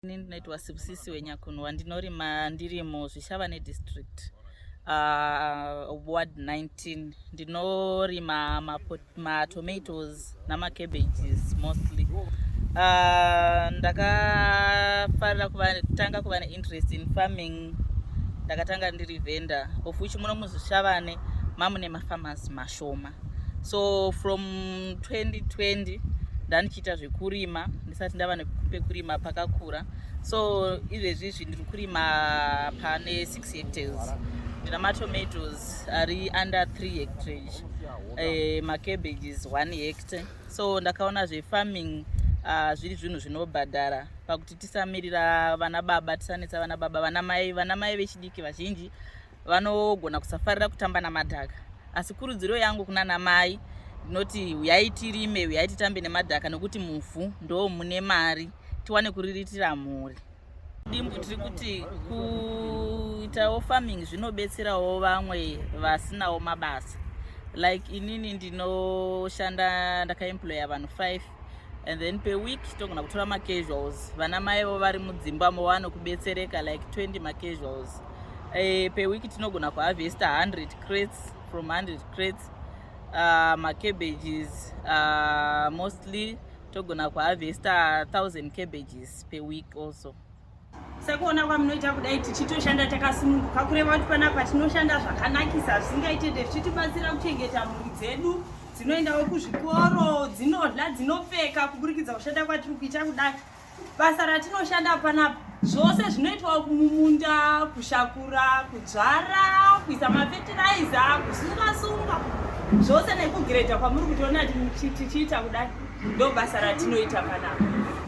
Ini ndinoitwa Sibusisi Wenyakunwa ndinorima ndiri muZvishavane district uh, ward 19 ndinorima matomatoes ma namacabages mostly uh, ndakafarira kutanga kuva neinterest in farming ndakatanga ndiri vendor of which muno muzvishavane mamune mafarmers mashoma so from 2020 ndandichiita zvekurima ndisati ndava nepekurima pakakura so izvezvi izvi ndiri kurima pane 6 hectares ndina matomatoes ari under 3 hectares eh, macabbages 1 hectare so ndakaona zvefarming uh, zviri zvinhu zvinobhadhara pakuti tisamirira vana baba tisanetsa vana baba vana mai vana mai vechidiki vazhinji vanogona kusafarira kutamba namadhaka asi kurudziro yangu kuna namai ndinoti huyai tirime huyai titambe nemadhaka nokuti muvhu ndo mune mari tiwane kuriritira mhuri dimbu tiri kuti kuitawo farming zvinobetserawo vamwe vasinawo mabasa like inini ndinoshanda ndakaemploya vanhu five and then per week togona kutora macasuals vana maivo vari mudzimba movano kubetsereka like 20 macasuals e, eh, per week tinogona kuharvesta 100 crates from 100 crates uh, ah, macabages uh, ah, mostly togona kuharvesta 1000 cabages per week also sekuona kwamunoita kudai tichitoshanda takasununguka kureva kuti panapa tinoshanda zvakanakisa zvisingaitende zvichitibatsira kuchengeta mhuri dzedu dzinoendawo kuzvikoro dzinodla dzinopfeka kuburikidza kushanda kwatiri kuita kudai basa ratinoshanda panapa zvose zvinoitwawo kumumunda kushakura kudzvara kuisa mafetiraiza kusungasunga zvose nekugiredha kwamuri kutiona tichiita kudai ndo basa ratinoita panapa